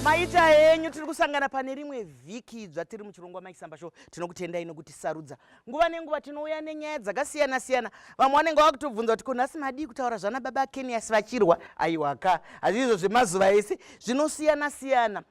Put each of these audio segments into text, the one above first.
maita henyu tiri kusangana pane rimwe vhiki idzva tiri muchirongwa maisamba sho tinokutendai nokuti sarudza nguva nenguva tinouya nenyaya dzakasiyana siyana vamwe vanenge vava kutobvunza kuti kunhasi madii kutaura zvana baba kenias vachirwa aiwaka hazviizvo zvemazuva ese zvinosiyana siyana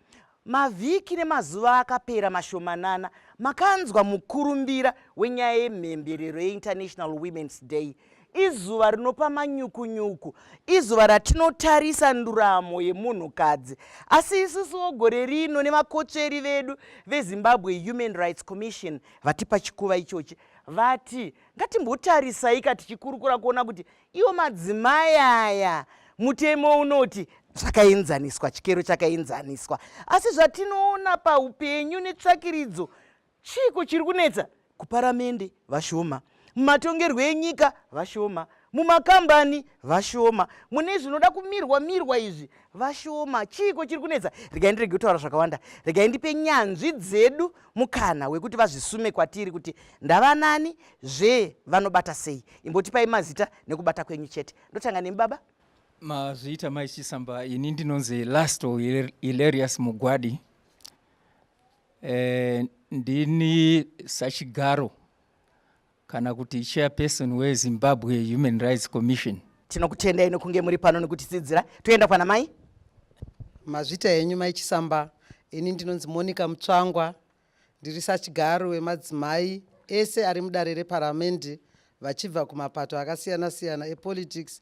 Mavhiki nemazuva akapera mashomanana makanzwa mukurumbira wenyaya yemhemberero yeInternational Women's Day izuva rinopa manyukunyuku izuva ratinotarisa nduramo yemunhukadzi asi isusuwo gore rino nevakotsveri vedu vezimbabwe human rights commission vati pachikuva ichochi vati ngatimbotarisai ka tichikurukura kuona kuti iwo madzimai aya mutemo unoti zvakaenzaniswa chikero chakaenzaniswa asi zvatinoona paupenyu netsvakiridzo chiiko chiri kunetsa kuparamende vashoma mumatongerwo enyika vashoma mumakambani vashoma mune zvinoda kumirwa mirwa izvi vashoma chiiko chiri kunetsa regai ndirege kutaura zvakawanda regai ndipe nyanzvi dzedu mukana wekuti vazvisume kwatiri kuti ndavanani zvee vanobata sei imbotipai mazita nekubata kwenyu chete ndotanga nemi baba mazviita mai chisamba ini ndinonzi last hilarious mugwadi e, ndini sachigaro kana kuti chairperson wezimbabwe human rights commission tinokutendai nokunge muri pano nekutisidzira toenda kwana mai mazvita enyu mai chisamba ini ndinonzi monica mutsvangwa Ndiri sachigaro wemadzimai ese ari mudare reparamende vachibva kumapato akasiyana-siyana epolitics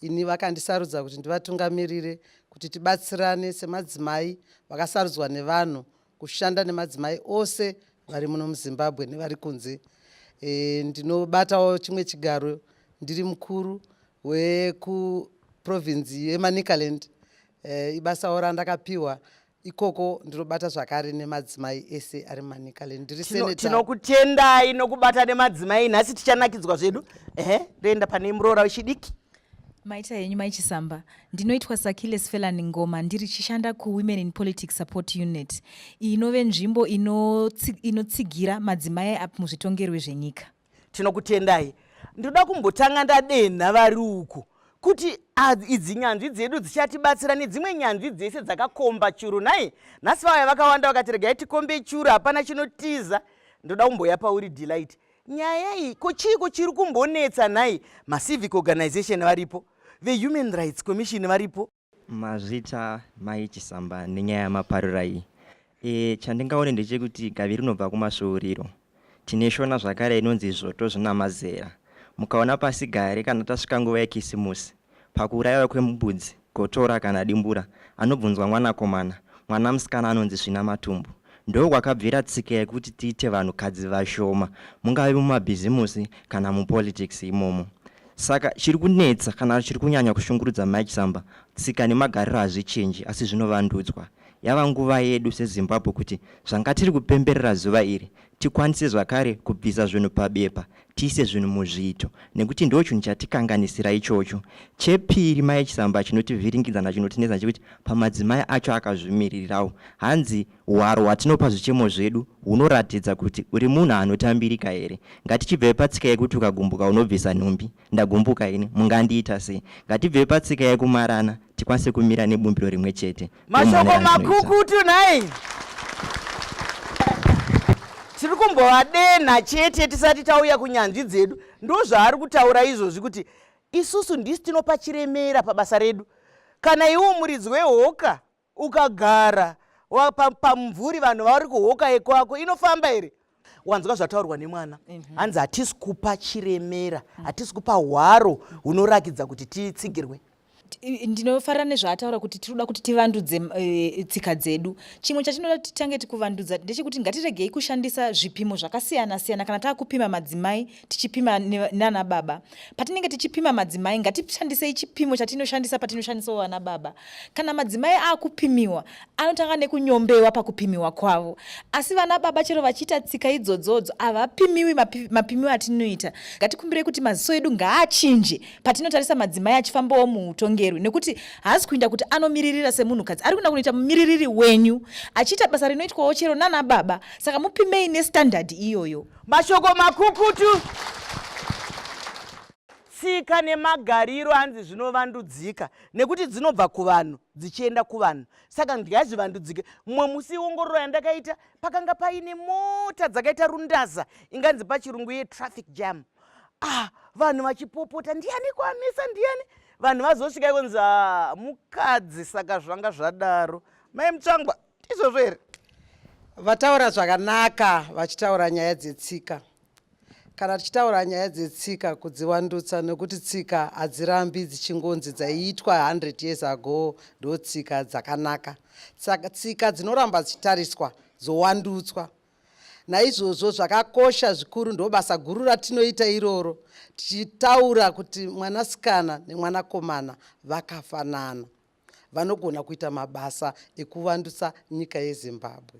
ini vakandisarudza kuti ndivatungamirire kuti tibatsirane semadzimai vakasarudzwa nevanhu kushanda nemadzimai ose vari muno muzimbabwe nevari kunze e, ndinobatawo chimwe chigaro ndiri mukuru wekuprovinzi yemanicaland e, ibasawo randakapiwa ikoko ndinobata zvakare nemadzimai ese ari manicaland ndiri tinokutendayi nokubata nemadzimai nhasi tichanakidzwa zvedu ehe ndoenda pane muroora wechidiki maita henyu maichisamba ndinoitwa sakiles felani ngoma ndiri chishanda kuwomen in politics support unit iyi inove nzvimbo inotsigira madzimai muzvitongerwe zvenyika tinokutendai ndoda kumbotanga ndadenha vari uku kuti idzi nyanzvi dzedu dzichatibatsira nedzimwe nyanzvi dzese dzakakomba churu nhai nhasi vauya vakawanda vakati regai tikombe churu hapana chinotiza ndoda kumboya pauri delight nyaya iyi ko chiiko chiri kumbonetsa nhai macivic organization varipo vehuman rights commission varipo Mazvita mai Chisamba nenyaya yamaparura iyi. E, chandingaone ndechekuti gavi rinobva kumasvuuriro. Tine shona zvakare inonzi zvoto zvina mazera. Mukaona pasi gare kana tasvika nguva yekisimusi, pakuurayiwa kwembudzi, gotora kana dimbura, anobvunzwa mwanakomana, mwana musikana anonzi svina matumbu. Ndoo kwakabvira tsika yekuti tiite vanhukadzi vashoma, mungave mumabhizimusi kana mupolitics imomo. Saka chiri kunetsa kana chiri kunyanya kushungurudza Mike Samba, tsika nemagariro hazvichinji asi zvinovandudzwa. Yava nguva yedu seZimbabwe kuti zvanga tiri kupemberera zuva iri tikwanise zvakare kubvisa zvinhu pabepa tiise zvinhu muzviito nekuti ndo chinhu chatikanganisira ichocho. Chepiri Mike Samba chinotivhiringidza nachinotinetsa chekuti pamadzimai acho akazvimiririrawo hanzi Hwaro hwatinopa zvichemo zvedu hunoratidza kuti uri munhu anotambirika here? Ngatichibvei patsika yekuti ukagumbuka unobvisa nhumbi. Ndagumbuka ini, mungandiita sei? Ngatibvei patsika yekumarana tikwanise kumira nebumbiro rimwe chete. Mashoko makukutu nhai! tiri kumbovadenha chete tisati tauya kunyanzvi dzedu ndozvaari kutaura izvozvi kuti isusu ndisi tinopa chiremera pabasa redu kana iwo muridzi wehoka ukagara pamumvuri vanhu vauri kuhoka yekwako inofamba here wanzwa zvataurwa nemwana mhm. hanzi hatisi kupa chiremera mhm. hatisi kupa hwaro hunorakidza kuti titsigirwe ndinofarira nezvaataura kuti tiri kuda kuti tivandudze eh, tsika dzedu chimwe chatinoda kuti titange tikuvandudza ndechekuti ngatiregei kushandisa zvipimo zvakasiyana siyana kana takupima madzimai tichipima nana baba patinenge tichipima madzimai ngatishandisei chipimo chatinoshandisa patinoshandisawo vana baba kana madzimai akupimiwa anotanga nekunyombewa pakupimiwa kwavo asi vana baba chero vachiita tsika idzodzodzo havapimiwi mapimiwo atinoita ngatikumbirei kuti maziso edu ngaachinje patinotarisa madzimai achifambawo muutongerwi nekuti haasi kuinda kuti anomiririra semunhukadzi ari kuinda kunoita mumiririri wenyu achiita basa rinoitwawo chero nana baba saka mupimei nestandard iyoyo Mashoko makukutu. Tsika nemagariro anzi zvinovandudzika nekuti dzinobva kuvanhu dzichienda kuvanhu saka ngazvivandudzike. Mumwe musi iongororo yandakaita pakanga paine mota dzakaita rundaza inganzi pachirungu ye traffic jam. Ah, vanhu vachipopota ndiani kwamisa ndiani vanhu vazosvika ikonzi ah, mukadzi saka zvanga zvadaro mai mutsvangwa ndizvozvo here vataura zvakanaka vachitaura nyaya dzetsika kana tichitaura nyaya dzetsika kudziwandutsa nekuti tsika hadzirambi dzichingonzi dzaiitwa 100 years ago ndo tsika dzakanaka saka tsika dzinoramba dzichitariswa dzowandutswa naizvozvo zvakakosha zvikuru ndo basa guru ratinoita iroro tichitaura kuti mwanasikana nemwanakomana vakafanana vanogona kuita mabasa ekuvandutsa nyika yezimbabwe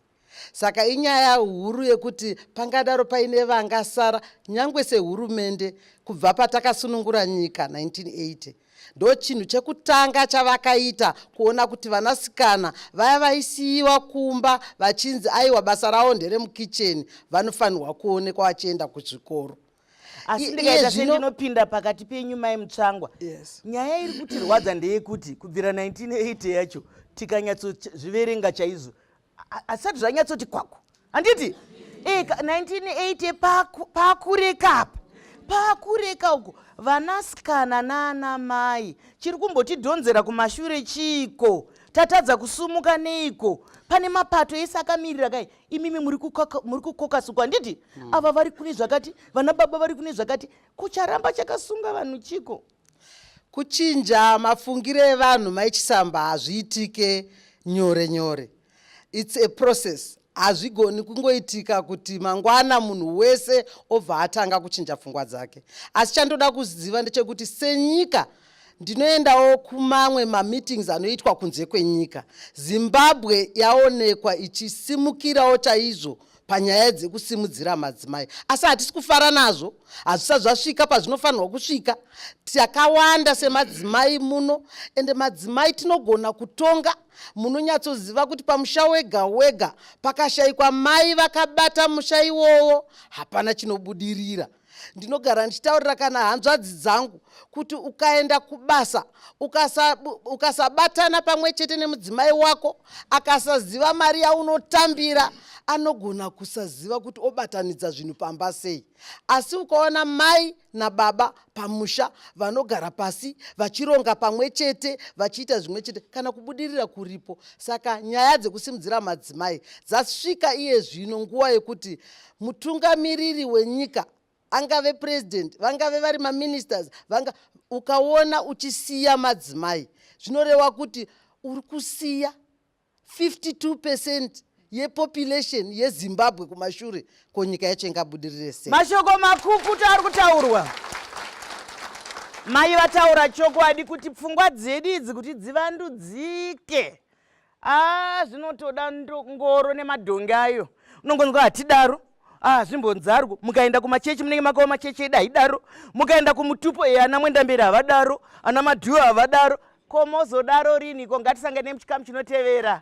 saka inyaya huru yekuti pangadaro paine vangasara nyange sehurumende kubva patakasunungura nyika 1980 ndo chinhu chekutanga chavakaita kuona kuti vanasikana vaya vaisiyiwa kumba vachinzi aiwa basa ravo nderemukicheni vanofanirwa kuonekwa vachienda kuzvikoro asi ndikaita sendinopinda pakati penyu mai mutsvangwa yes. nyaya iri kutirwadza ndeyekuti kubvira 1980 yacho tikanyatsozviverenga chaizvo asati zvanyatsoti kwaku handiti e, 1980 pakureka apa pakureka uko vanasikana naana mai chiri kumbotidhonzera kumashure chiiko tatadza kusumuka neiko pane mapato ese akamirira kai imimi muri kukokasukwa handiti mm. ava vari kune zvakati vana baba vari kune zvakati kucharamba chakasunga vanhu chiko kuchinja mafungiro evanhu maichisamba hazviitike nyore nyore its a process hazvigoni kungoitika kuti mangwana munhu wese obva atanga kuchinja pfungwa dzake asi chandoda kuziva ndechekuti senyika ndinoendawo kumamwe mameetings anoitwa kunze kwenyika zimbabwe yaonekwa ichisimukirawo chaizvo panyaya dzekusimudzira madzimai asi hatisi kufara nazvo hazvisati zvasvika pazvinofanirwa kusvika takawanda semadzimai muno ende madzimai tinogona kutonga munonyatsoziva kuti pamusha wega wega pakashaikwa mai vakabata musha iwowo hapana chinobudirira ndinogara ndichitaurira kana hanzvadzi dzangu kuti ukaenda kubasa ukasabatana pamwe chete nemudzimai wako akasaziva mari yaunotambira anogona kusaziva kuti obatanidza zvinhu pamba sei asi ukaona mai nababa pamusha vanogara pasi vachironga pamwe chete vachiita zvimwe chete kana kubudirira kuripo saka nyaya dzekusimudzira madzimai dzasvika iye zvino nguva yekuti mutungamiriri wenyika angave president vangave vari maministers vanga ukaona uchisiya madzimai zvinoreva kuti uri kusiya 52 percent yepopulation yezimbabwe kumashure ko nyika yacho ingabudirire sei mashoko makukutu ari kutaurwa mai vataura chokwadi kuti pfungwa dzedu idzi kuti dzivandudzike aa zvinotoda ngoro nemadhongi ayo unongonzwa hatidaro aa zvimbonzarwo mukaenda kumachechi munenge makawo machechi edu haidaro mukaenda kumutupo e ana mwendamberi havadaro ana madhuyo havadaro ko mozodaro riniko ngatisangane muchikamu chinotevera